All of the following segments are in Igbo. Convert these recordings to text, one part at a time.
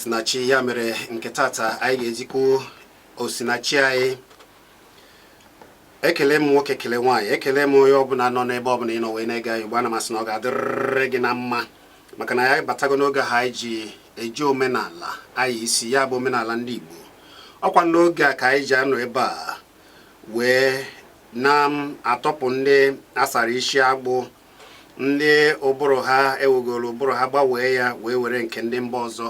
osinachi ya mere nke tata anyị ga-ezikwu osinachi anyị ekele m nwoke kele nwaanyị ekele m onye ọbụla nọ n'ebe ọbụla ị nọ wee na-ege anyị ugbu a ana m asị na ọ ga-adịrịrị gị na mma maka na anyị batago n'oge ahụ anyị ji eji omenala anyị isi ya bụ omenala ndị Igbo ọkwa n'oge a ka anyị ji anọ ebe a wee na-atọpụ ndị asara isi agbụ ndị ụbụrụ ha ewegoro ụbụrụ ha gbanwee ya wee were nke ndị mba ọzọ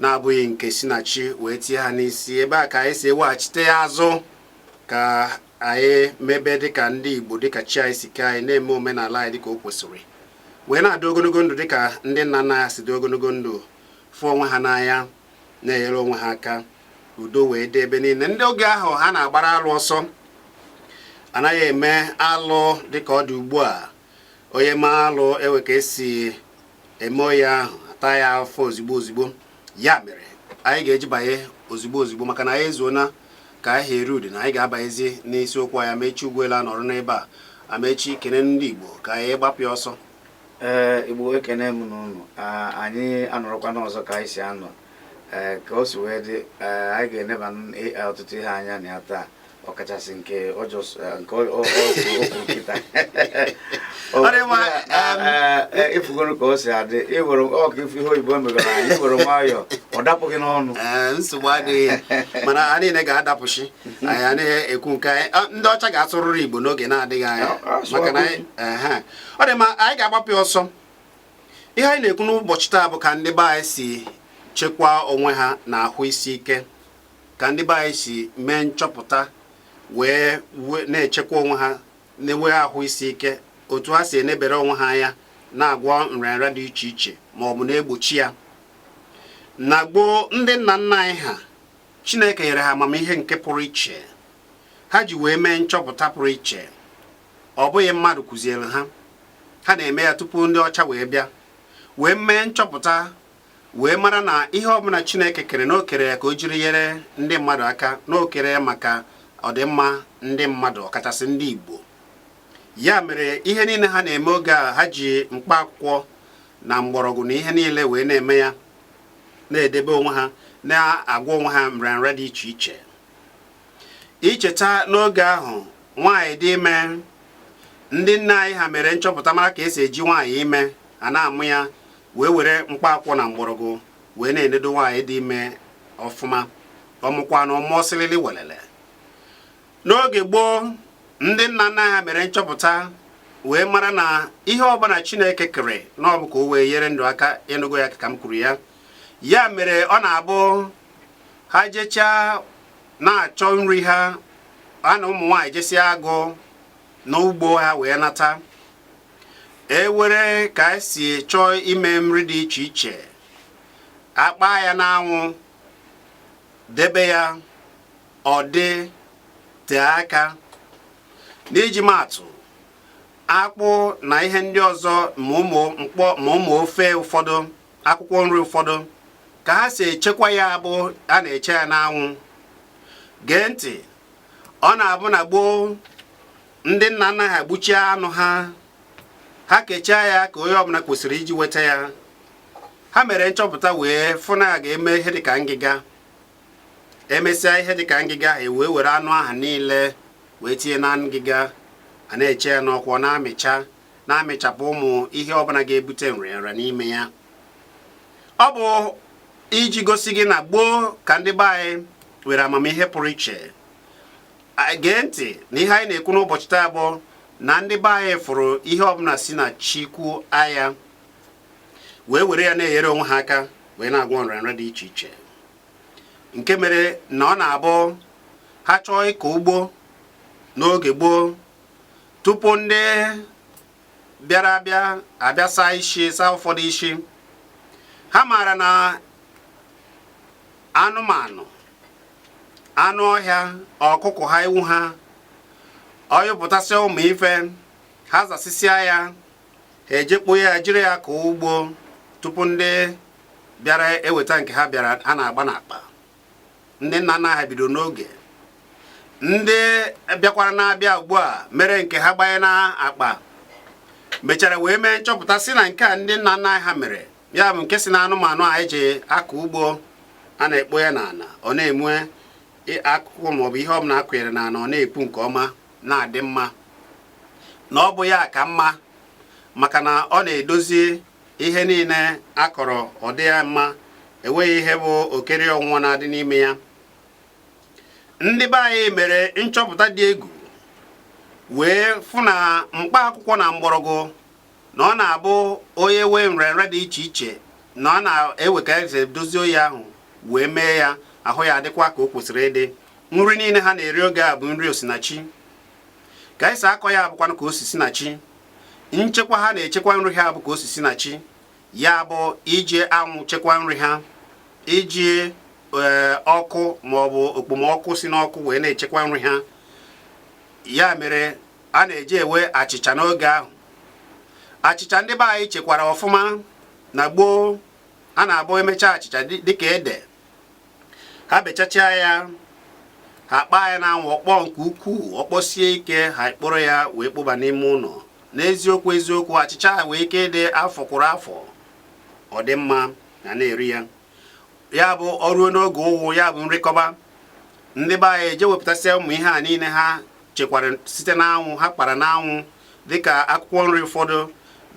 na-abụghị nke si na chi wee tinye ha n'isi ebe a ka anyị si eweghachite ya azụ ka anyị mebe dịka ndị Igbo dịka chi anyị si kee anyị na-eme omenala anyị dịka o kwesịrị wee na-adị ogologo ndụ dịka ndị nna nna anyị si dị ogologo ndụ fụ onwe ha n'anya na-enyere onwe ha aka udo wee dị ebe niile ndị oge ahụ ha na-agbara alụ ọsọ anaghị eme alụ dịka ọ dị ugbu a onye mee alụ enwee ka esi eme onye ahụ ata ya afụfụ ozigbo ozigbo ya mere anyị ga-eji banye ozigbo ozigbo maka na anyị ezuona ka anyị ha ready na anyị ga-abanyezi n'isiokwu anyị amechi ugwuele anọrọ n'ebe a amechi kene ndị igbo ka anyị gbapụ ya ọsọ ee igbo ekene m unu anyị anọrọkwanụ ọzọ ka anyị si anọ ee ka o si wee dị ee anyị ga-eneba ọtụtụ ihe anya na ya taa ọkachasị nke ọjọọ eh, nke ọgwụ nkịta ịfụgoro ka o si adị ịwere ọka ịfụ ihe oyibo megara anyị iwere nwayọọ ọ dapụghị n'ọnụ eh, nsogbu adịghị mana ha niile ga-adapụcha anyị anaghị ekwu nke anyị ah, ndị ọcha ga-asụrịrị igbo n'oge na-adịghị anya ah, ah, maka na eh, ọ dị ma anyị ga-agbapụ ọsọ ihe anyị na-ekwu n'ụbọchị taa bụ ka ndị be anyị si chekwaa onwe ha na ahụ isi ike ka ndị be anyị si mee nchọpụta wee na-echekwa onwe ha na-enwe ahụ isi ike otu ha si enebere onwe ha anya na-agwọ nrịanrịa dị iche iche ma ọ bụ na-egbochi ya na gboo ndị nna nna anyị ha Chineke nyere ha amamihe nke pụrụ iche ha ji wee mee nchọpụta pụrụ iche ọ bụghị mmadụ kụziere ha ha na-eme ya tupu ndị ọcha wee bịa wee mee nchọpụta wee mara na ihe ọbụla Chineke kere na o kere ya ka o jiri nyere ndị mmadụ aka na o kere ya maka ọdịmma ndị mmadụ ọkachasị ndị Igbo ya mere ihe niile ha na-eme oge ahụ ha ji mkpa akwụkwọ na mgbọrọgwụ na ihe niile wee na-eme ya na-edebe onwe ha na-agwọ onwe ha nrịanrịa dị iche iche icheta n'oge ahụ nwaanyị dị ime ndị nne anyị ha mere nchọpụta mara ka esi eji nwaanyị ime a na-amụ ya wee were mkpa akwụkwọ na mgbọrọgwụ wee na-enedo nwaanyị dị ime ọfụma ọ mụkwa nwa ọ mụọ silili welele n'oge gboo ndị nna nna ha mere nchọpụta wee mara na ihe ọbụla chineke kere na ọ bụ ka o wee nyere ndụ aka ị nụgo ya ka m kwuru ya ya mere ọ na-abụ ha jechaa na-achọ nri ha ha na ụmụ nwaanyị jesịa agụ n'ugbo ha wee nata e nwere ka e si chọọ ime nri dị iche iche a kpaa ya n'anwụ debe ya ọ dị tee aka n'iji maatụ akpụ na ihe ndị ọzọ ma ụmụ ofe ụfọdụ akwụkwọ nri ụfọdụ ka ha si echekwa ya bụ a na-eche ya n'anwụ gee ntị ọ na-abụ na gboo ndị nna nna ha gbuchaa anụ ha ha kechaa ya ka onye ọbụla kwesịrị iji nweta ya ha mere nchọpụta wee fụ na a ga-eme ihe dịka ngịga e mesịa ihe dịka ngịga e wee were anụ ahụ niile wee tinye na ngịga a na-eche ya n'ọkụ ọ na-amịcha na-amịchapụ ụmụ ihe ọbụla ga-ebute nrịanrịa n'ime ya ọ bụ iji gosi gị na gboo ka ndị be anyị nwere amamihe pụrụ iche gee ntị na ihe anyị na-ekwu n'ụbọchị taa bụ na ndị be anyị fụrụ ihe ọbụla si na chukwu anya wee were ya na-enyere onwe ha aka wee na-agwọ nrịanrịa dị iche iche nke mere na ọ na-abụ ha chọọ ịkọ ugbo n'oge gboo tupu ndị bịara abịa abịa saa ụfọdụ isi ha maara na anụmanụ anụ ọhịa ọkụkụ ha ewu ha ọ nyụpụtasịa ụmụ ife ha zasịsịa ya ha eje kpoo ya jiri ya kọọ ugbo tupu ndị bịara eweta nke ha bịara a na-agba n'akpa ndị nna nna ha bido n'oge ndị bịakwara na-abịa ugbu a mere nke ha gbanye n'akpa mechara wee mee nchọpụta sị na nke a ndị nna nna ha mere ya bụ nke si na anụmanụ a e ji akọ ugbo a na-ekpo ya n'ala ọ na-eme akụkụ maọbụ ihe ọbụla a kụnyere n'ala ọ na-epu nke ọma na-adị mma na ọ bụ ya ka mma maka na ọ na-edozi ihe niile a kọrọ ọ dị ya mma enweghị ihe bụ okere ọnwụnwa na-adị n'ime ya ndị be anyị mere nchọpụta dị egwu wee fụ na mkpa akwụkwọ na mgbọrọgwụ na ọ na-abụ onye nwee nrịanrịa dị iche iche na a na-enwe ka esi dozie ọya ahụ wee mee ya ahụ ya adịkwa ka o kwesịrị ịdị nri niile ha na-eri oge a bụ nri osinachi ka esi akọ ya bụkwanụ ka o si si na chi nchekwa ha na-echekwa nri ha bụ ka o si si na chi ya bụ iji anwụ chekwa nri ha iji eh, ọkụ maọbụ okpomọkụ si n'ọkụ wee na-echekwa nri ha ya mere a na-eji enwe achịcha n'oge ahụ achịcha ndị be anyị chekwara ọfụma na gboo a na-abụ emechaa achịcha dịka ede ha bechachaa ya ha kpaa ya n'anwụ ọ kpọọ nke ukwuu ọ kpọsie ike ha kporo ya wee kpoba n'ime ụlọ n'eziokwu eziokwu achịcha ha nwee ike ịdị afọ kwuru afọ ọ dị mma na na-eri ya ya bụ o ruo n'oge ụnwụ ya bụ nri kọba ndị be anyị eje wepụtasịa ụmụ ihe a niile ha chekwara site n'anwụ ha kpara n'anwụ dịka akwụkwọ nri ụfọdụ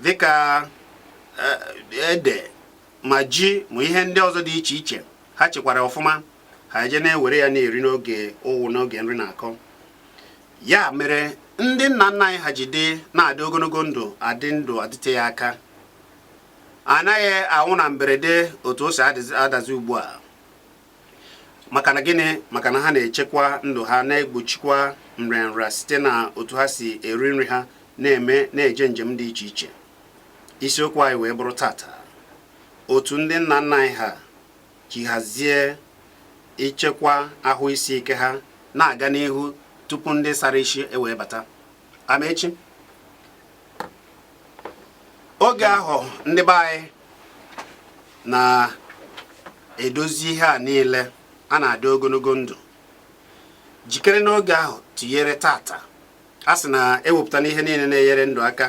dịka eh, ede ma ji ma ihe ndị ọzọ dị iche iche ha chekwara ọfụma ha eje na-ewere ya na-eri n'oge ụnwụ n'oge nri na-akọ ya mere ndị nna nna anyị ha ji dị na-adị ogologo ndụ adị ndụ adịte ya aka anaghị anwụ na mberede otu o si adazi ugbu a maka na gịnị maka na ha na-echekwa ndụ ha na-egbochikwa nrịanrịa site na otu ha si eri nri ha na-eme na-eje njem dị iche iche isiokwu anyị wee bụrụ tata otu ndị nna nna anyị ha ji hazie ichekwa ahụ isi ike ha na-aga n'ihu tupu ndị sara isi ewee bata amaechi oge ahụ ndị be anyị na-edozi ihe a niile a na-adị ogologo ndụ jikere n'oge ahụ tụnyere tata a sị na ewepụtana ihe niile na-enyere ndụ aka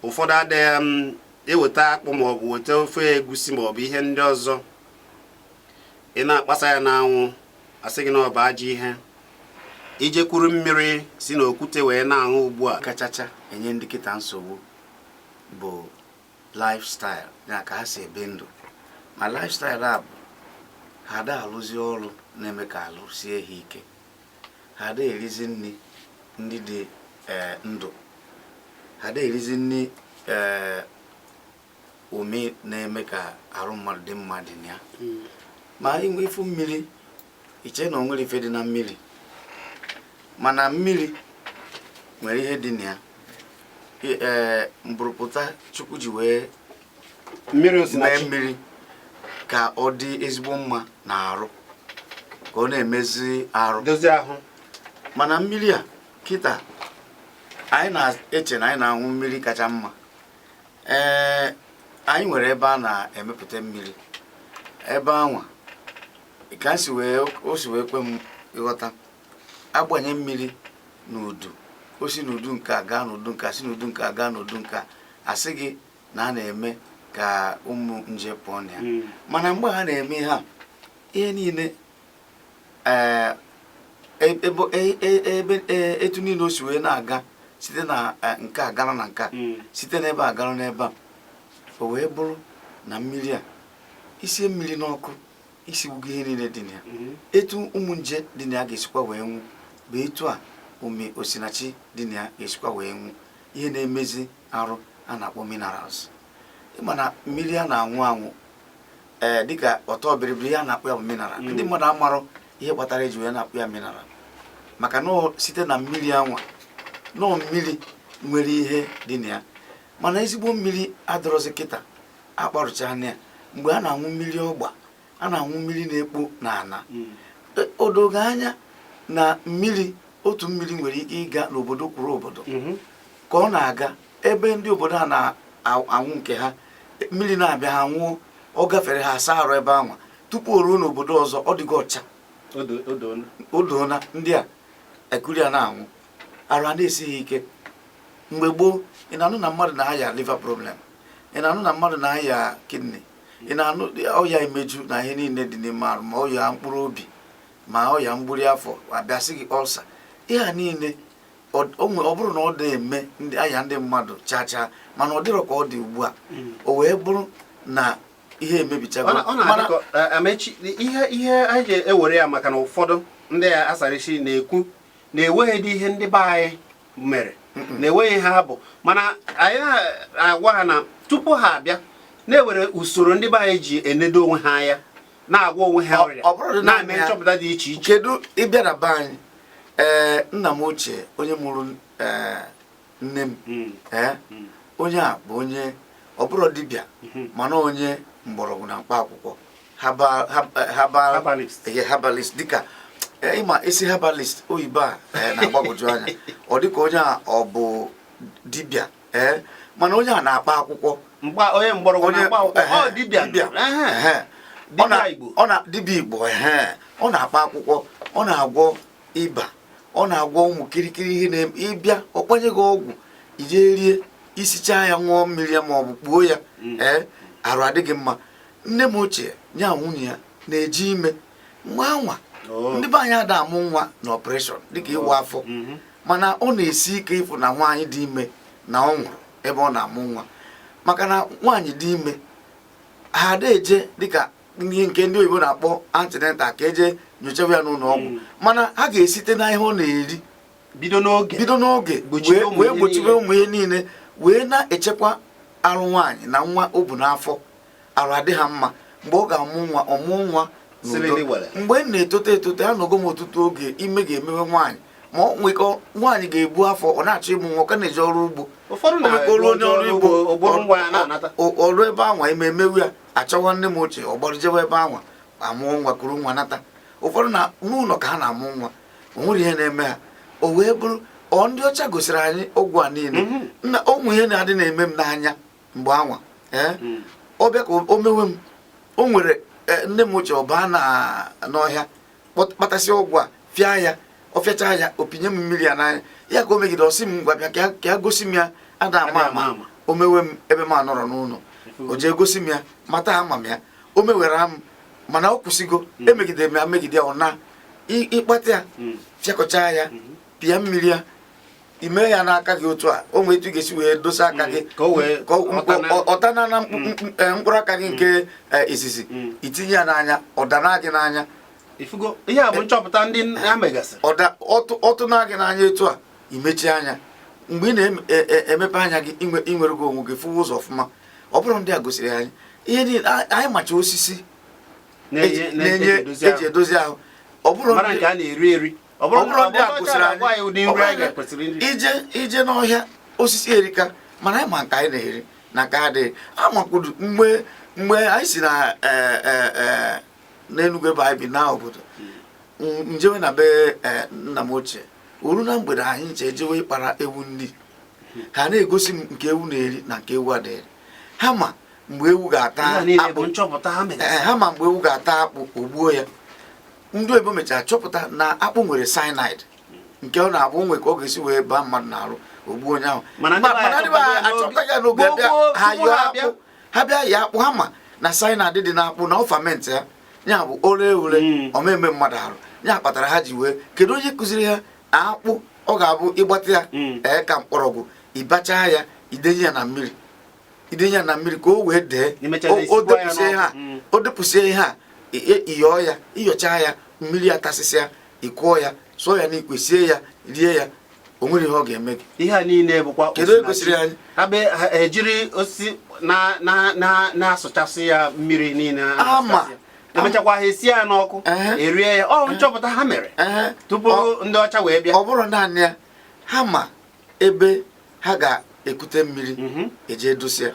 ụfọdụ adịghị m um, i weta akpụ maọbụ weta ofe egusi maọbụ ihe ndị ọzọ ị na-akpasa ya n'anwụ a sị gị na ọ bụ ajọ ihe i je kuru mmiri si n'okwute wee na-aṅụ ugbu a kachacha enye ndị kịta nsogbu bụ lifestyle ya ka ha si ebi ndụ ma lifestyle a bụ ha ada alụzi ọrụ na-eme ka arụ sie ha ike ha ada erizi nri ndị dị eh, ndụ ha ada erizi nri eh, ụmụ ihe na-eme ka arụ mmadụ dị mma dị na ya hmm. ma inwe ifu mmiri iche na o nwere ife dị na mmiri mana mmiri nwere ihe dị na ya ee mburupụta chukwu ji wee mee osinachi mmiri ka ọ dị ezigbo mma n'arụ ka ọ na-emezi arụ dozie ahụ mana mmiri a kịta anyị na-eche na anyị na-aṅụ mmiri kacha mma ee anyị nwere ebe a na-emepụta mmiri ebe anwa ka o si wee kwe m ịghọta a gbanye mmiri n'udu o si n'udu nke a gaa n'udu nke a si n'udu nke a gaa n'udu nke a a sị gị na a na-eme ka ụmụ nje pụọ na ya hmm. mana mgbe ha na-eme ha ihe niile eh, e, ebe e, e, etu niile o si wee na-aga site na eh, nke a gara na nke a hmm. site n'ebe a gara n'ebe a o wee bụrụ na mmiri a i sie mmiri n'ọkụ i sigbugo ihe niile dị na ya mhm. etu ụmụ nje dị na ya ga-esikwa wee nwụ bụ etu a ụmị osinachi dị na ya ga-esikwa wee nwụ ihe na-emezi arụ a na-akpọ minerals ị ma na mmiri a na-anwụ anwụ ee eh, dịka ọtọ bịrịbịrị ihe a na-akpọ ya bụ mineral mhm. ndị mmadụ amarọ ihe kpatara e ji wee na-akpọ ya mineral maka na site na mmiri anwa nọọ mmiri nwere ihe dị na ya mana ezigbo mmiri adịrọzi kịta akparụchana ya mgbe a na-aṅụ mmiri ọgba a na-aṅụ mmiri na-ekpo n'ala hmm. e, o dogo anya na mmiri otu mmiri nwere ike ịga n'obodo kwuru obodo hmm. ka ọ na-aga ebe ndị obodo a na-anwụ nke ha mmiri na-abịa ha nwụọ ọ gafere ha asa arụ ebe anwa tupu o ruo n'obodo ọzọ ọ dịgo ọcha o doona ndị a ekuru ya na-anwụ arụ a na-esi ha ike mgbe gboo ị na-anụ na mmadụ na-aya liver problem ị na-anụ na mmadụ na-aya kidney ị na-anụ ọya imeju na ihe niile dị n'ime arụ ma ọya mkpụrụ obi ma ọya mgburi afọ a bịa sị gị ulcer ihe a niile ọ bụrụ na ọ na-eme ndị aya ndị mmadụ chaa chaa mana ọ dịrọ ka ọ dị ugbu a hmm. o wee bụrụ na ihe emebichago e, ihe ihe anyị ga-ewere ya maka na ụfọdụ ndị asarichi na-ekwu na enweghịdị ihe ndị be anyị mere na enweghị ihe ha bụ mana anyị na-agwa ha na tupu ha abịa na-ewere usoro ndị be anyị ji enedo onwe ha anya na-agwa onwe ha ọrịa na-eme nchọpụta dị iche iche kedu ị bịa na be anyị ee eh, nna m ochie onye mụrụ ee eh, nne m hmm. ee hmm. onye a bụ onye ọ bụrọ dibịa hmm. mana onye mgbọrọgwụ na mkpa akwụkwọ herbalist dịka eh, ị ma ị sị herbalist oyibo a eh, na-agbagwoju anya ọ dịka onye a ọ bụ dibịa ee eh, mana onye a na-akpa akwụkwọ onye mgbọrọgwụ na-akpa akwụkwọ dibịa dibịa igbo ọ na-akpa akwụkwọ ọ na-agwọ ịba ọ na-agwọ ụmụ kirikiri ihe na-eme ị bịa ọ kpanye gị ọgwụ i je rie i sichaa ya ṅụọ mmiri ya ma ọ bụ kpuo ya mm. ee arụ adị gị mma nne m ochie ya nwunye ya na-eji ime mgbe anwa oh. ndị be anyị ada amụ nwa na operation dịka ịwa oh. afọ mm-hmm. mana ọ na-esi ike ịfụ na nwaanyị dị ime na ọ nwụrụ ebe ọ na-amụ nwa maka na nwaanyị dị ime ha ada eje dịka ihe nke ndị oyibo na-akpọ antenatal ka e je nyochaba ya n'ụlọ ọgwụ hmm. mana ha ga-esite na ihe ọ na-eri bido n'oge bido n'oge wee gbochibe ụmụ ihe niile wee na-echekwa arụ nwaanyị na nwa o bu n'afọ arụ adị ha mma mgbe ọ ga-amụ nwa ọ mụọ nwa mgbe m na-etote etote anọgo m ọtụtụ oge ime ga-emewe nwaanyị ma ọ nwekọ nwaanyị ga-ebu afọ ọ na-achọ ịmụ nwa ka na-eje ọrụ ugbo ụfọdụ na-arụ onye ọrụ ugbo o ruo ebe anwa ime emewe ya a chọwa nne m ochie ọ gbarụ jewe ebe anwa amụọ nwa kuru nwa nata ụfọdụ na n'ụlọ ka ha na-amụ nwa o nwerọ ihe na-eme ha o wee bụrụ ọ ndị ọcha gosiri anyị ọgwụ a niile mhm. na o nwee ihe na-adị na-eme m n'anya mgbe anwa ee eh? mm. ọ bịa ka o mewe m o nwere eh, nne m ochie ọ baa na n'ọhịa kpatasịa ọgwụ a fịa ya ọ fịacha ya ọ pịnye m mmiri ya n'anya ya ka o megide ọ sị m ngwa bịa ka ya gosi m ya ada ama ama o mewe m ebe m anọrọ n'ụlọ o jee gosi m ya mata ama m ya o mewere m mana ọ kwụsịgo hmm. emegidere m ya megide ọ naa ị kpata ya hmm. fịakọcha ya hmm. pịa mmiri ya i mee ya n'aka gị otu a o nwee etu ị ga-esi wee dosa aka gị ọ tana na mkpụrụ aka gị nke izizi i tinye ya n'anya ọ dana gị n'anya ihe a bụ nchọpụta ndị ha megasịrị ọ tụna gị n'anya etu a i mechie anya mgbe ị na-emepe anya gị i nwerego onwe gị fụwa ụzọ ọfụma ọ bụrụ ndị a gosiri anyị ihe niile anyị macha osisi na-enye eji edozi ahụ ọ bụrụ nke a na-eri eri ọ bụrụ na ndị a gosiri anyị ụdị nri anyị ga-ekwesịrị iri i je i je n'ọhịa osisi erika mana anyị ma nke anyị na-eri na nke a da eri amakwuru mgbe mgbe anyị si na e, e, e, n'enugwu ebe anyị bi naa obodo m jewe na be nna m ochie o ruo na mgbede anyị ncha ejewe ịkpara ewu nri ha na-egosi m nke ewu na-eri na nke ewu ada eri ha ma mgbe ewu ga-ata akpụ ha ma mgbe ewu ga-ata akpụ o gbuo ya ndị oyibo mechara chọpụta na akpụ nwere cyanide nke ọ na-abụ o nwee ka ọ ga-esi wee baa mmadụ n'arụ o gbuo onye ahụ mana achọpụta ya n'oge abịa ha yọọ akpụ ha bịa ya akpụ ha ma na cyanide dị n'akpụ na ọ fermentịa ya bụ o ree ure hmm. ọ ma-eme mmadụ arụ ya kpatara ha ji wee kedu onye kụziri ha na akpụ ọ ga-abụ ị gbata ya hmm. ee ka mkpọrọgwụ ị bachaa ya i denye ya na mmiri i denye ya na mmiri ka o wee dee o depụsie ihe a ị yọọ ya ị yọchaa ya mmiri atasịsịa ị kụọ ya sụọ ya n'ikwe sie ya rie ya o nwere ihe ọ ga-eme gị ihe a niile bụkwa kedu e gosiri anyị ejiri osisi na-asụchasị ya mmiri niile ama emechakwa ha esi ya n'ọkụ erie ya ọ nchọpụta ha mere tupu ndị ọcha wee bịa ọ bụrọ naanị ya ha ma ebe ha ga-ekute mmiri mhm. eje edosia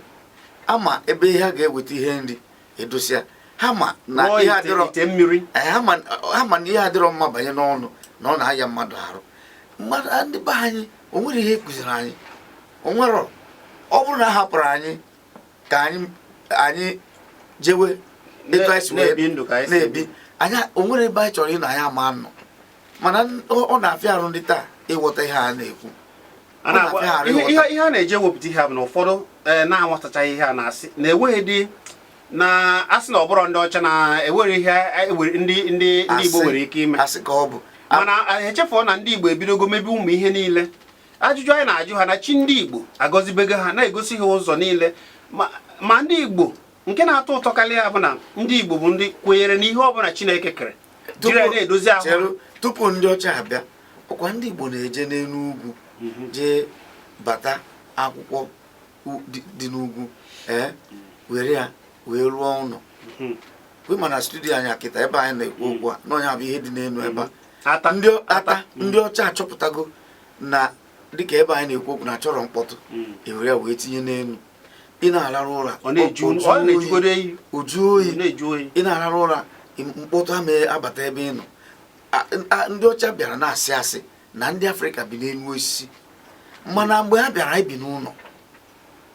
ha ma ebe ha ga-eweta ihe nri edosia ha ma na ihe adịrọ eh, ha ma na ihe adịrọ mma banye n'ọnụ na ọ na-aya mmadụ arụ mmadụ ndị be anyị o nwere ihe kụziri anyị o nwere ọ bụrụ na a hapụrụ anyị ka anyị anyị jewe etu anyị si na-ebi anyị o nwere ebe anyị chọrọ ịnọ anyị ama nọ mana ọ na-afịa arụ ndị taa ịghọta ihe a na-ekwu ihe a na-eji ewepụta ihe a bụ na ụfọdụ e, na-aghọtachaghị ihe a na-asị na e nwee ndị na-asị na ọ bụrọ ndị ọcha na e nwerọ ihe e ndị ndị Igbo nwere ike ime mana e, echefuo na ndị Igbo ebidogo mebe ụmụ ihe niile ajụjụ anyị na-ajụ ha na chi ndị Igbo agọzibego ha na-egosi ha ụzọ niile ma ndị Igbo nke na-atọ ụtọ karịa bụ na ndị Igbo bụ ndị kwenyere n'ihe ọ bụla Chineke kere jiri na-edozi ahụ tupu ndị ọcha abịa ọ kwa ndị Igbo na-eje n'elu ugwu mhm. jee bata akwụkwọ dị n'ugwu ee eh, were ya wee rụọ ụlọ mhm. we ma na studio anyị a kịta ebe anyị na-ekwu mhm. okwu a na ọ nya bụ ihe dị n'elu ebe a ndị ọcha achọpụtago na dịka ebe anyị na-ekwu okwu na a chọrọ mkpọtụ ewere ya wee tinye n'elu ị na-ararụ ụra ọ na-eju otu ọ na-ejugodo oyi ọ jụ oyi ọ na-ajụ oyi ị na-ararụ ụra mkpọtụ ama abata ebe ị nọ A- a- ndị ọcha bịara na-asị asị na ndị Afrịka bi n'elu osisi mana mgbe ha bịara anyị bi n'ụlọ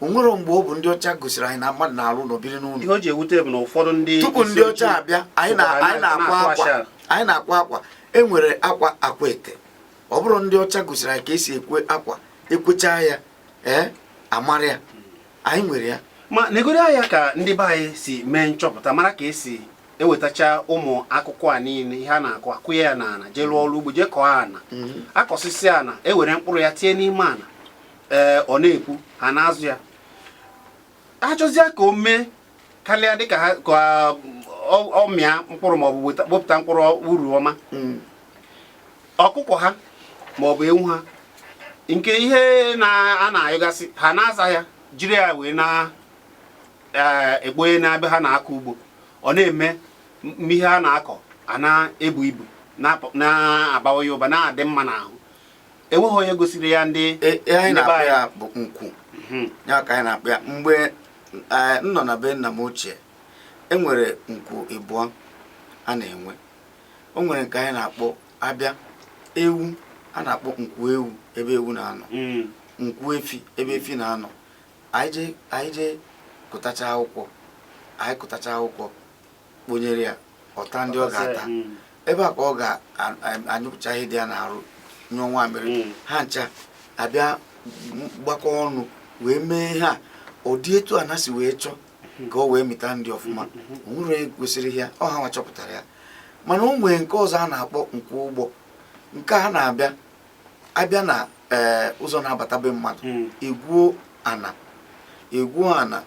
o nwere mgbe ọ bụ ndị ọcha gosiri anyị na mmadụ na-arụ ụlọ biri n'ụlọ ihe o ji ewute bụ na ụfọdụ ndị tupu ndị ọcha abịa anyị na- sokwa anyị na-akwa na-atụ akwa ashara. anyị na-akwa akwa e nwere akwa Akwete ọ bụrọ ndị ọcha gosiri anyị ka e si ekwe akwa ekwechaa ya ee a mara ya anyị nwere ya ma negoro anya ka ndị be anyị si mee nchọpụta mara ka e si ewetacha ụmụ akụkụ a niile ihe a na-akụ akụnye ya n'ala jee lụọ ọrụ ugbo jee kọọ ana mhm. akọsịsịa ana ewere mkpụrụ ya tinye n'ime ana ee ọ na-epu ha na-azụ ya achọzịa ka o mee karịa dịka ha ka ọ mịa mkpụrụ maọbụ wepụta mkpụrụ uru ọma hmm. ọkụkọ ha maọbụ ewu ha nke ihe ha na-anyụgasị ha na-aza ya jiri ya wee na-ekponye e, n'ebe ha na-akọ ugbo ọ na-eme ihe ha na-akọ a na-ebu ibu na-abawanye ụba na-adị mma n'ahụ enweghị onye gosiri ya ndị e, e, anyị na-akpọ ya bụ nkwu mhm. ya ka anyị na-akpọ ya mgbe e, m nọ na be nna m ochie e nwere nkwu ịbụọ a na-enwe o nwere nke anyị na-akpọ abịa ewu a na-akpọ nkwu ewu ebe ewu na-anọ mm. nkwu efi ebe efi na-anọ anyị jee kụtacha akwụkwọ anyị kụtacha akwụkwọ kponyere ya ọ taa ndị ọ ga-ata hmm. ebe a ka ọ ga-anyụpụcha ihe dị ya n'arụ nyụọ nwamiri hmm. ha ncha abịa gbakọ ọnụ wee mee ha ụdị etu a na-esi wee chọọ hmm. ka ọ wee mịta nri ọfụma o nwere onye gosiri ya ọ ha nwa chọpụtara ya mana o nwee nke ọzọ a na-akpọ nkwu ugbo nke a na-abịa abịa na eh, ụzọ na-abata be mmadụ hmm. egwuo ana egwuo ana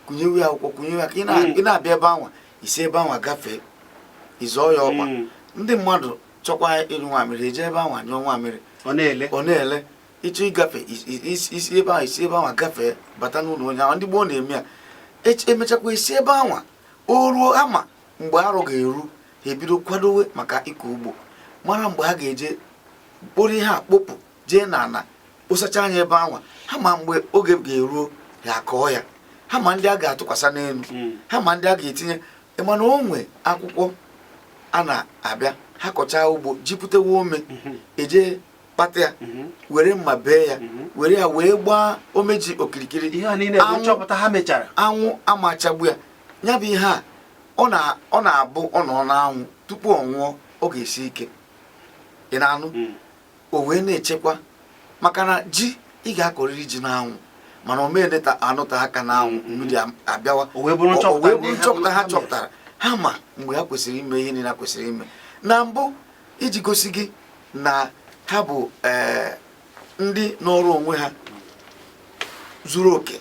kụnyewe ya akwụkwọ kụnyewe ya ka ị hmm. na-abịa ebe anwa i si ebe anwa gafee ị zọọ ya ọkpa hmm. ndị mmadụ chọkwa ịnyụ nwamiri eje ebe anwa nyụọ nwamiri ọ na-ele ị chọọ ịgafe i si ebe ahụ i si ebe anwa gafee bata n'ụlọ onye ahụ ndị gboo na-eme ya emechakwa isi ebe anwa o ruo ha ma mgbe arọ ga-eru ha ebido kwadowe maka ịkọ ugbo mara mgbe ha ga-eje kporo ihe a kpopụ jee n'ana kposachaa ya ebe anwa ha ma mgbe oge ga-eruo ha akọọ ya ha ma ndị a ga-atụkwasị n'elu hmm. ha ma ndị a ga-etinye mana o nwe akwụkwọ a na-abịa ha kọchaa ugbo ji pụtewe ome hmm. eje kpata ya mhm. were mma bee ya mhm. were ya wee gbaa ome ji okirikiri anwụ ama achagbu ya ya bụ ihe a ọ na-abụ ọ nọ n'anwụ tupu ọ nwụọ ọ ga-esi ike ị na-anụ mhm. o wee na-echekwa maka na ji ị ga-akọrịrị ji n'anwụ mana ọ ma na-anọta aka n'anwụ mmiri abịawa o wee bụrụ nchọpụta ha chọpụtara ha ma mgbe ha kwesịrị ime ihe niile ha kwesịrị ime na mbụ iji gosi gị na ha bụ eh, ndị nọọrọ onwe ha zuru oke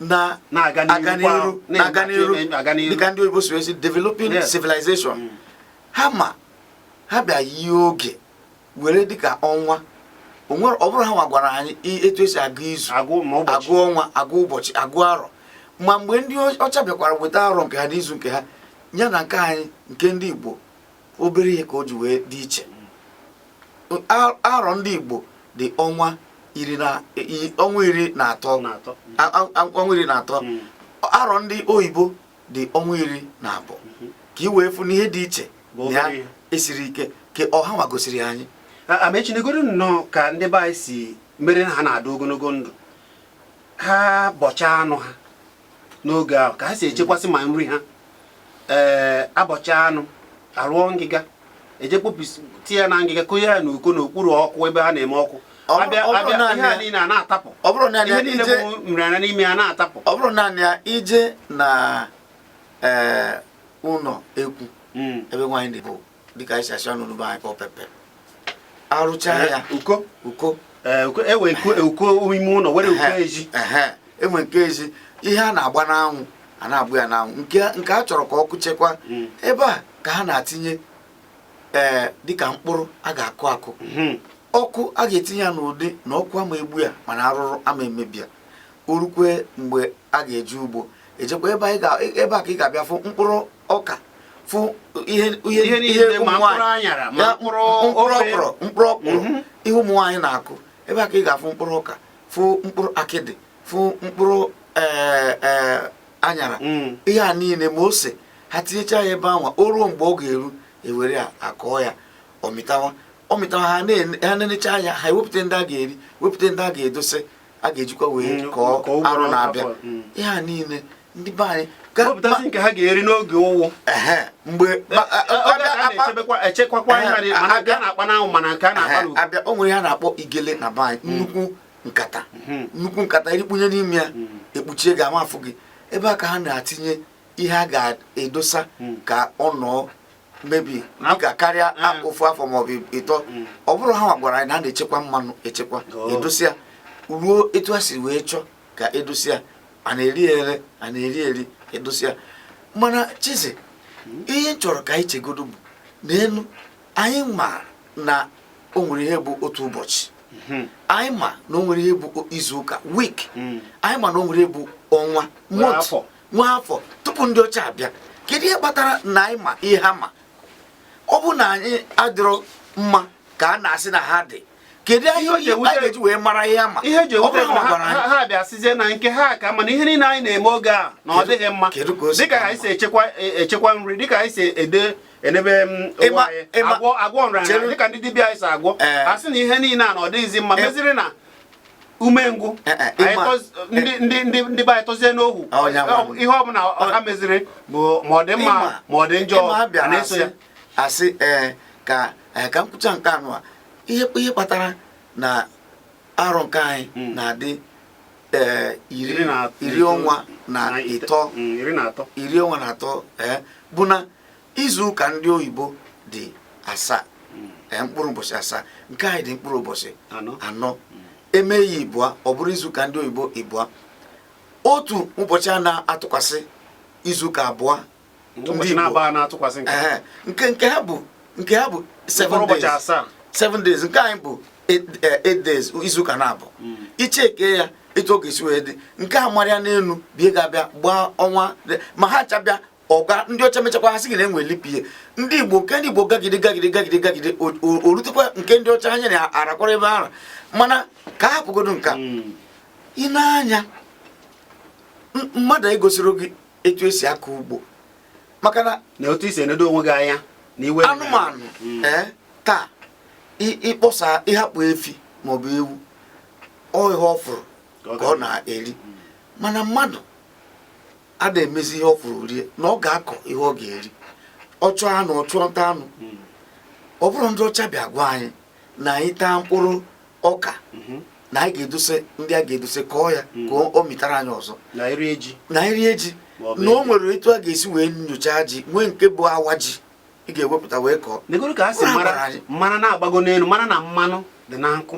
na-aga n'iru na-aga n'iru dịka ndị oyibo si esi developing civilization mm. ha ma ha bịa yie oge were dịka ọnwa ọ bụrụ ha nwa gwara anyị etu esi agụ izu agụ ọnwa agụ ụbọchị agụ arọ ma mgbe ndị ọcha bịakwara weta arọ nke ha na izu nke ha ya na nke anyị nke ndị Igbo obere ihe ka o ji wee dị iche arọ ndị Igbo dị ọnwa iri na atọ hmm. arọ ndị oyibo dị ọnwa iri na abụọ hmm. ka ị wee fụ n'ihe dị iche ya esiri ike ka ọ ha nwa gosiri anyị amechinegoro nnọọ ka ndị be anyị si mere na ha na-adị ogologo ndụ ha bọcha anụ ha n'oge ahụ ka ha si echekwasị ma nri ha ee eh, a bọcha anụ arụọ ngịga eje kpopụsi tinye ya na ngịga konye ya n'uko n'okpuru ọkụ ebe ha na-eme ọkụ a bịa ihe a niile a na-atapụ ihe niile bụ nrịanrịa n'ime ya na-atapụ ọ bụrụ naanị ya i je na eh, ụlọ ekwu hmm. ebe nwaanyị na-ebo dịka anyị si asị ọnụ n'ụba anyị pọpepe arụcha ya uko uko e nwee uko ime ụlọ nwee uko ezi e nwee nke ezi ihe a na-agba n'anwụ a na-agbụ ya n'anwụ nke a chọrọ ka ọkụ chekwa hmm. ebe a ka ha na-atinye ee dịka mkpụrụ a ga-akụ akụ hmm. ọkụ a ga-etinye ya n'ụdị na ọkụ ama egbu ya mana arụrụ ama emebi ya o rukwe mgbe a ga-eje ugbo e jekwa ebe a ka ị ga-abịa fụ mkpụrụ ọka fụ ihe mkpụrụ ọkwụrụ mkpụrụ ọkwụrụ mhm. ihe ụmụ nwaanyị na-akụ ebe a ka ị ga-afụ mkpụrụ ọka fụ mkpụrụ akịdị fụ mkpụrụ e, e, anyara mm. ihe a niile ma ose ha tinyecha ya ebe anwa o ruo mgbe ọ ga-eru e were ya akọọ ya ọ mịtawa ọ mịtawa ha na-enecha anya ha ewepụta ndị a ga-eri wepụta ndị a ga-edose a ga-ejikwa wee mm, kọọ arọ na-abịa mm. ihe a niile ndị be anyị wepụtazi nke ha ga-eri n'oge ụnwụ mgbe echekwakwa a na-akpa n'anwụ mana nke a na-akpa n'ugwu abịa o nwere ihe a na-akpọ igele na be anyị mm. nnukwu nkata mm-hmm. nnukwu nkata i rikpunye n'ime ya mm. e kpuchie gị ama afụ gị ebe a ka ha na-atinye ihe a ga-edosa ka ọ nọọ maybe ka karịa mm. ofu afọ maọbụ ịtọ mm. ọ bụrụ ha nwa gwara anyị na a na-echekwa mmanụ echekwa oh. e dosie ya ruo etu a si wee chọọ ka e dosie ya a na-ere ere a na-eri eri e dosie ya mana Chizi mm. ihe m chọrọ ka anyị chegodo bụ n'elu anyị ma na o nwere ihe bụ otu ụbọchị mm-hmm. anyị ma na o nwere ihe bụ izu ụka week anyị ma na o nwere ihe bụ ọnwa month nwee afọ tupu ndị ọcha abịa kedu ihe kpatara na anyị ma ihe a ma ọ bụ na anyị adịrọ mma ka a na-asị na ha dị kedu ihe anyị ga-eji wee mara ihe a ma ihe o ji ewute ha bịa sizie na nke ha ka mma na ihe niile anyị na-eme oge a na ọ dịghị mma dịka anyị si echekwa e- echekwa nri dịka anyị si edebe onwe anyị agwọ nrịanrịa dịka ndị dibịa anyị si agwọ Ee. a sị na ihe niile a na ọ dịghịzi mma Ee. meziri na umengwụ eh, eh, eh, ndị be anyị tọzie n'ohu ihe ọbụla ha meziri ma ọ dị mma ma ọ dị njọ na-eso ya asị ee ka ka m kwuchaa nke ọnwa ihe kpatara na arọ nke anyị hmm. na-adị iri ọnwa na ịtọ hmm, iri ọnwa na atọ bụ na izu ụka ndị oyibo dị asaa hmm. eh, mkpụrụ ụbọchị asaa nke anyị dị mkpụrụ ụbọchị anọ hmm. e mee ya ịbụa ọ bụrụ izu ụka ndị oyibo ịbụa otu ụbọchị a na-atụkwasị izu ụka abụọ eh, nke nke ha bụ nke ha bụ seven days seven days nke anyị bụ eh, eight days izu ụka na-abụ hmm. i checkie ya etu ọ ga-esi wee dị nke a marịa n'elu ibe ga-abịa gbaa ọnwa ma ha chabịa ọga ndị ọcha mechakwa ha sị gị na enwe leap year ndị igbo nke ndị igbo gagide gagide gagide gagide o rutekwa nke ndị ọcha anya na arakwara ebe ahụ mana ka a hapụgodo nka hmm. ị na-anya mmadụ egosirọ gị etu esi akọ ugbo maka na na otu i si enedo onwe gị anya na iwe anụmanụ hmm. eh, taa ịkpọsa ị hapụ efi maọbụ ewu ọ ihe ọ fụrụ ka ọ na-eri hmm. mana mmadụ a na-emezi ihe ọ fụrụ o rie na ọ ga-akọ ihe ọ ga-eri ọ chụọ anụ ọ chụọ nta anụ hmm. ọ bụrọ ndị ọcha bịa gwa anyị na anyị taa mkpụrụ ọka hmm. na anyị ga-edose ndị a ga-edose kọọ ya hmm. ka ọ mịtara anyị ọzọ na e rie ji na o nwere etu a ga-esi wee nyocha ji wee nke bụ awa ji ị ga-ewepụta wee kọọ negodo ka e si mara na-agbago n'elu mara na mmanụ dị na nkwụ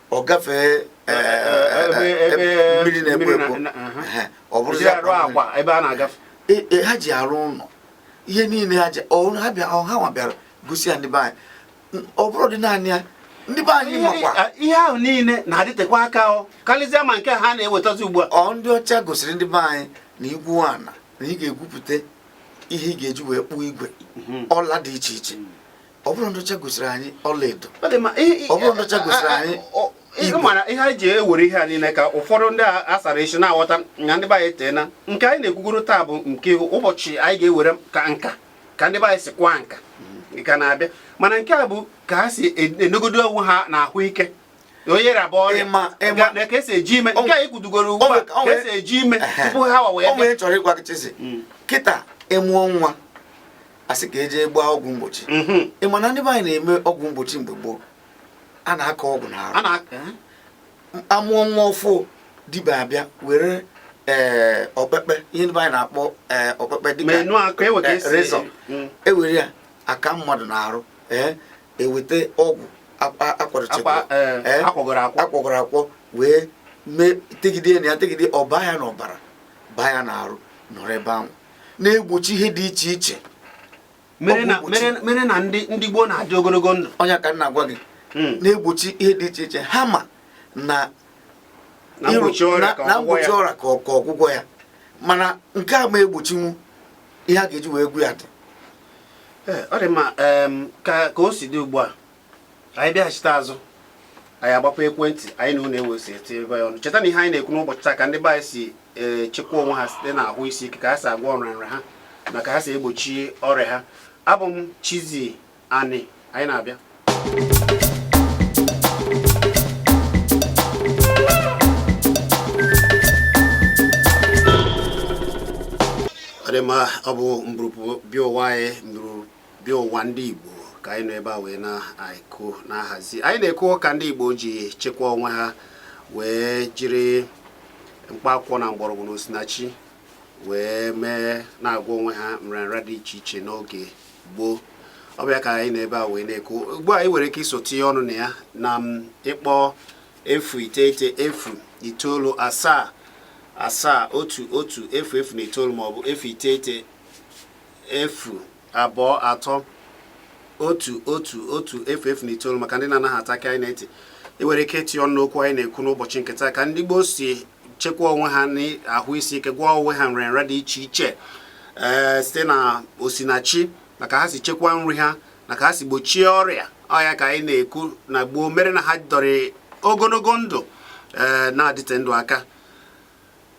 ọ gafee eh, eh, eh, ebe mmiri na-ekpo ekpo ọ bụrụzi a rụọ akwa ebe a na-agafe e, e, ha ji arụ ụlọ ihe niile ha ji ha nwa bịara gosi ya ndị be anyị ọ bụrụ dị naanị ya ndị be anyị makwa ihe ahụ niile na-adịtekwa aka karịsịa ma nke ha na-ewetazi ugbu a ọ ndị ọcha gosiri ndị be anyị na i gwuo ana na ị ga-egwupụta ihe ị ga-eji wee kpụọ igwe mhm. ọla dị iche iche ọ bụrọ ndị ọcha gosiri anyị ọlaedo ọ bụrọ ndị ọcha gosiri anyị igbo mara ihe anyị ji ewere ihe a niile ka ụfọdụ ndị a sara isi na-aghọta na ndị be anyị tee na nke anyị na-ekwugodo taa bụ nke ụbọchị anyị ga-ewere ka nka ka ndị be anyị si akwa nka ka na-abịa mana nke a bụ ka ha si enegodo onwe ha na ahụ ike onye rịaba ọrịa na ka esi eji ime nke anyị kwutugoro ugbu a ka esi eji ime tupu ha wa wee chọrọ ịgwa kịta ịmụọ nwa a sị ka e je gbaa ọgwụ mgbochi mhm. ị ma na ndị be anyị na-eme ọgwụ mgbochi mgbe gboo a na-aka ọgwụ n'arụ a mụọ nwa ọfụụ dibịa abịa were ee eh, okpekpe ihe ndị be anyị na-akpọ ee eh, okpekpe dịka e rezọ e were mm. ya aka mmadụ n'arụ ee e weta ọgwụ akwakwọgoro akwọ wee mee tegide ya tegide ọ baa ya n'ọbara baa ya n'arụ nọrọ ebe ahụ na-egbochi ihe dị iche iche mere na ndị gboo na-adị ogologo ndụ ọ nya ka m na-agwa gị hmm. na-egbochi ihe dị iche iche ha ma na mgbochi ọrịa ka ọgwụgwọ ya mana nke a ma egbochinwu ihe a ga-eji wee gwọọ ya dị eh, ọ dị mma ka o si dị ugbu a anyị bịaghachite azụ anyị agbapụ ekwentị anyị na ụlọ ewee si etibe ọnụ cheta na ihe anyị na-ekwu n'ụbọchị taa ka ndị be anyị si echekwa onwe ha site na ahụ isi ike ka ha si agwọ nrịanrịa ha na ka ha si egbochi ọrịa ha abụ m Chizzy Ani anyị na-abịa ọ dị mma ọ bụ mburupu bịa ụwa anyị mburu bịa ụwa ndị Igbo ka anyị nọ ebe a wee na-ekwu na-ahazi anyị na-ekwu ka ndị Igbo ji chekwa onwe ha wee jiri mkpa akwụkwọ na mgbọrọgwụ na osinachi wee mee na-agwọ onwe ha nrịanrịa dị iche iche n'oge gboo ọ bụ ya ka anyị nọ ebe a wee na-ekwu ugbu a ị nwere ike iso tinye ọnụ na ya na ịkpọ efu iteghete efu itoolu asaa asaa otu otu efu efu na itoolu maọbụ efu iteghete efu abụọ atọ otu otu otu efu efu na itoolu maka ndị na-anaghị ata aka anyị na-eti ị nwere ike iti ọnụ n'okwu anyị na-ekwu n'ụbọchị nke taa ka ndị gboo si chekwa onwe ha n'ahụ isi ike gwọọ onwe ha nrịanrịa dị iche iche ee eh, site na osinachi na ka ha si chekwa nri ha na ka ha si gbochie ọrịa ọ ya ka anyị na-ekwu na gboo mere na ha dọrọ ogologo ndụ ee eh, na-adịte ndụ aka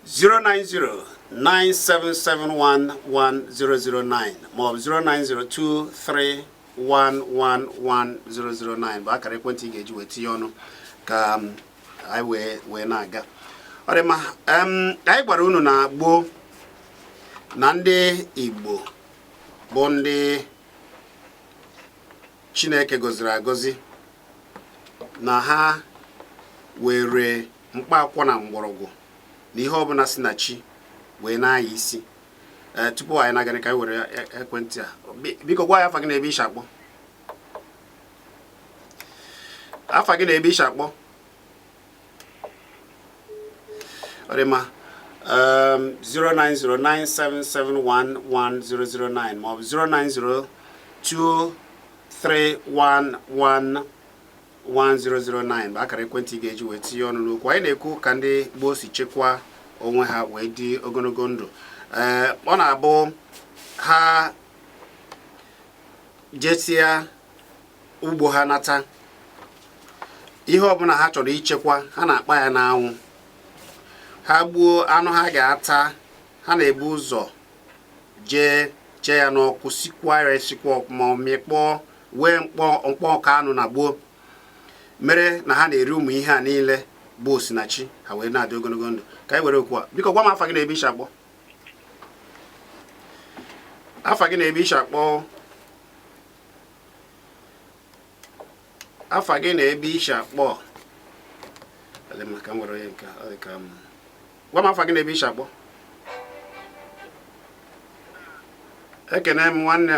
09097711009 maọbụ 09023111009 bụ akara ekwentị ị ga-eji wee tinye ọnụ ka um, anyị wee wee na-aga ọ dị mma um, anyị gwara unu na gboo na ndị Igbo bụ ndị Chineke gọziri agọzi na ha were mkpa akwụkwọ na mgbọrọgwụ na ihe ọbụla si na chi wee na-anya isi ee tupu anyị na-aga ka anyị were e- ekwentị a biko gwa anyị afa gị na ebe i shi akpọ afa gị na ebe i shi akpọ ọ dị mma 09097711009 maọbụ 0902311 1009 bụ akara ekwentị ị ga-eji wee tinye ọnụ n'okwu anyị na-ekwu ka ndị gboo si chekwa onwe ha wee dị ogologo ndụ ee ọ na-abụ ha jesia ugbo ha nata ihe ọbụla ha chọrọ ichekwa ha na-akpa ya n'anwụ ha gbuo anụ ha ga-ata ha na-ebu ụzọ jee chee ya n'ọkụ sikwa ya esikwa ọkụ ma ọ mịkpọọ wee mkpọ mkpọ ọka anụ na gboo mere na ha na-eri ụmụ ihe a niile bụ osinachi ha wee na-adị ogologo ndụ ka anyị were oku a biko gwa m afa gị na ebe i shi akpọ afa gị na ebe i shi akpọ afa gị na ebe i shi akpọ gwa m afa gị na ebe i shi akpọ ekene m nwanne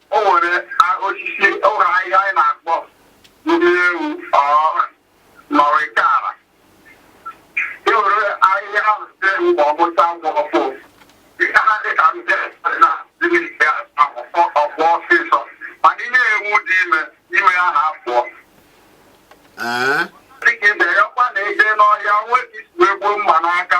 O nwere a- osisi o nwere ahịhịa anyị na-akpọ ndị ewu ọọrị nọrịkara e were ahịhịa ahụ site ewu ma ọ bụta ngwa afọ ihe ha dị ka ndị na dịmike akwụkwọ ọfụ ọsịsọ mana ihe ewu dị ime ime ya ha afụọ Ee, dịka ibe ya ọkwa na-eje n'ọhịa nwee ka isi wee gbuo mma n'aka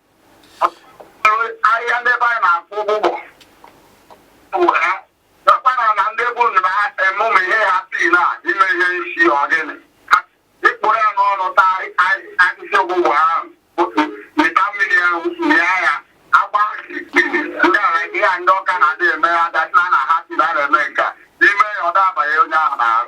ahịhịa ndị be anyị na-akpọ ụgbụgbọ mgbe ha nakwana na ndị bụ na ha eme ụmụ ihe ha si na ime ihe isi ọgịnị ị kpụrụ ya n'ọnụ taa akịsị ụgbụgbọ ahụ mịta mmiri ahụ mịa ya agba ndị ala ihe ndị ọka na-adị eme ya dasịla na ha si na na-eme nke a ime ya ọ dabanye onye ahụ n'ahụ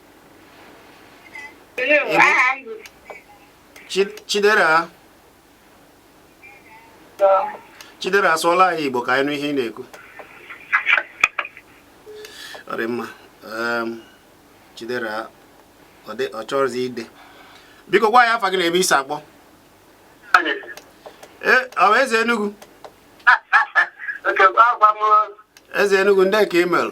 Chidera Chidera sụọlụ anyị Igbo ka anyị nụ ihe ị na-ekwu ọ dị mma ehm, Chidera ọ chọrọzi ide biko gwa anyị afa gị na ebe i si akpọ e, ọ bụ eze Enugu eze Enugu ndị ka ị merụ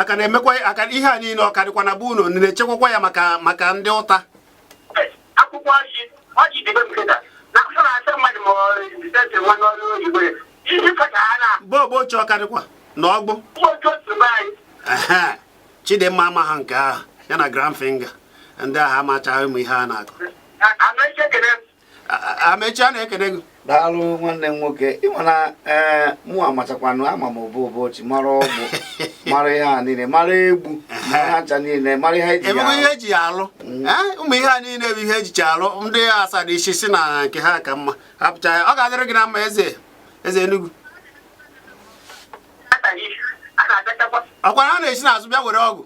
aka na-emekwa aka ihe a niile ọ ka dịkwa na be unu na-echekwakwa ya maka maka ndị ụta akwụkwọ ọjị ọjị dịbe nkịta na mkpụrụ asa mmadụ ma ọrụ nwa n'ọrụ oyibo isi fata ha na bọọbụ oche ọ ka dịkwa na ọgbụ chidimma amaghị nke ahụ ya na grand finger ndị ahụ amachaghị ụmụ ihe a na-akọ amechi a na-ekene gị daalụ nwanne m nwoke ịma na ee eh, mụ amachakwanụ ama m obo obochi mara ọgbụ mara ihe a niile mara egbu mara ncha niile mara ihe eji alụ ihe eji alụ mm. eh, ụmụ ihe a niile bụ ihe ejicha alụ ndị asara isi si na nke ha ka mma hapụcha ya ọ ga-adịrị gị na mma eze eze Enugu ọkwara ha na-esi n'azụ bịa were ọgwụ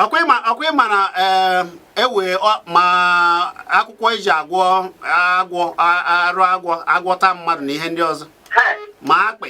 ọkwa ịma na ewe eh, e ma akwụkwọ eji agwọ agwọ arụ agwọ agwọ ta mmadụ na ihe ndị ọzọ ma akpị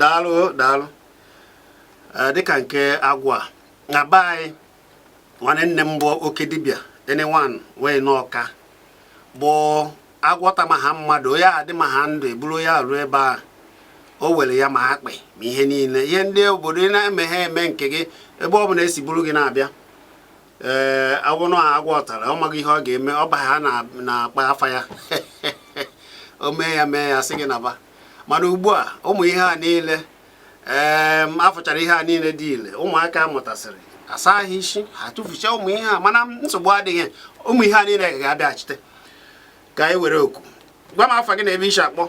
daalụ daalụ eh, dịka nke agwọ na be anyị nwanne nne m bụ oke dibịa enewan wee n'ọka bụ agwọ ta ma ha mmadụ ya adị ma ha ndụ eburu ya ruo ebe a o were ya ma akpị ma ihe niile ihe ndị obodo na-eme ha eme nke gị ebe ọ bụla esi buru gị na-abịa ee agwọ nọ agwọ tara ọ maghị ihe ọ ga-eme ọ ba ha na-akpa afa ya o mee ya mee ya sị gị naba mana ugbu a ụmụ ihe a niile ee afụchara ihe a niile dị ile ụmụaka mụtasịrị asa ha isi ha tụfucha ụmụ ihe a mana nsogbu adịghị ụmụ ihe a niile ga-abịaghachite ka anyị were oku gwa m afa gị na ebe isi akpọ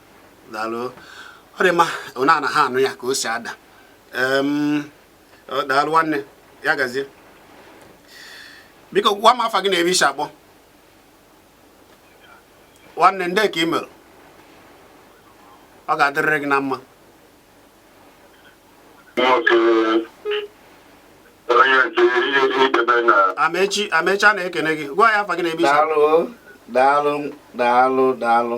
daalụ ọ dị mma ọ na-ana ha anụ ya ka o si ada daalụ nwanne ya gazie biko gwa m afa gị na ebe isi akpọ nwanne ndee ka ị mere ọ ga-adịrịrị gị na mma amechi amechi a na-ekene gị gwa ya afa gị na ebe isi daalụ daalụ daalụ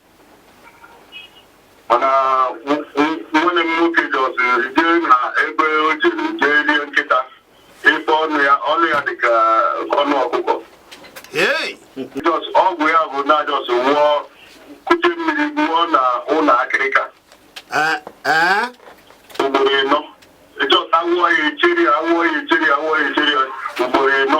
mana nwanne m nwoke just jee na ebe o jiri jee rie nkịta ịfụ ọnụ ya ọnụ ya dịka ọnụ ọkụkọ just ọgwụ ya bụ na just wụọ kute mmiri wụọ na ụlọ akịrịka ugboro ịnọ just awụọ ya echeri awụọ ya echeri awụọ ya echeri ugboro ịnọ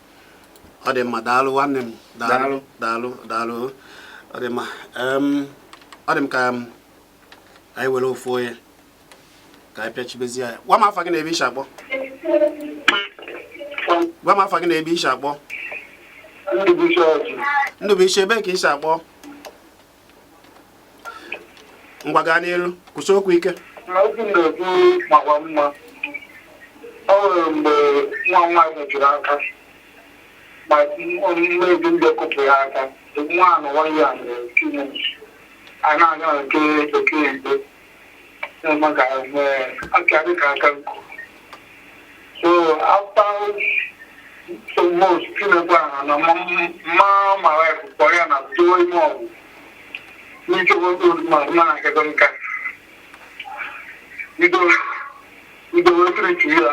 ọ dị mma daalụ nwanne m daalụ daalụ daalụ ọ dị mma ọ dị m ka anyị were ofu onye ka anyị pịachibezie ya gwa m afa gị na ebe i si akpọ gwa m afa gị na ebe i si akpọ Ndụbụisi ebe ka i si akpọ ngwa gaa n'iru kwusie okwu ike okwu na-ekwu makwa mma ọ nwere mgbe nwa nwaanyị mejuru aka ma omume ezi ndị kụpụ ya aka nwa anụ nwa ya mere a na-aga nke bekee igbo na-eme ka aka dị ka aka nkụ so after so most tinekwa ha na mma mara ekụkọ ya na tụọ ime ọgwụ n'ike nwoke mmadụ na agado nka idowe triti ya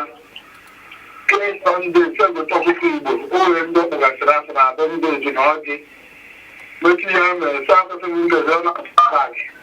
kemgbe ndị segụta ọkụkọ igbo o nwere ndị ọkpụgasịrị asị na adọ ndị oji na ọjị mechi ya mere sa asụsụ ndị ọzọ na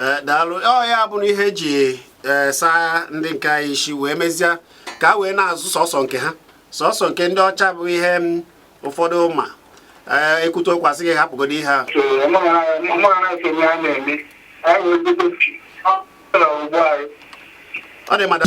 Eh, daalụ ọ ya bụ na ihe e ji eh, saa ndị nke anyị isi wee mezie ka a wee na-azụ sọsọ nke ha sọsọ nke ndị ọcha bụ ihe mm, ụfọdụ ma eh, e kwute okwu a sị gị hapụgodo ihe a ọ dị mmadụ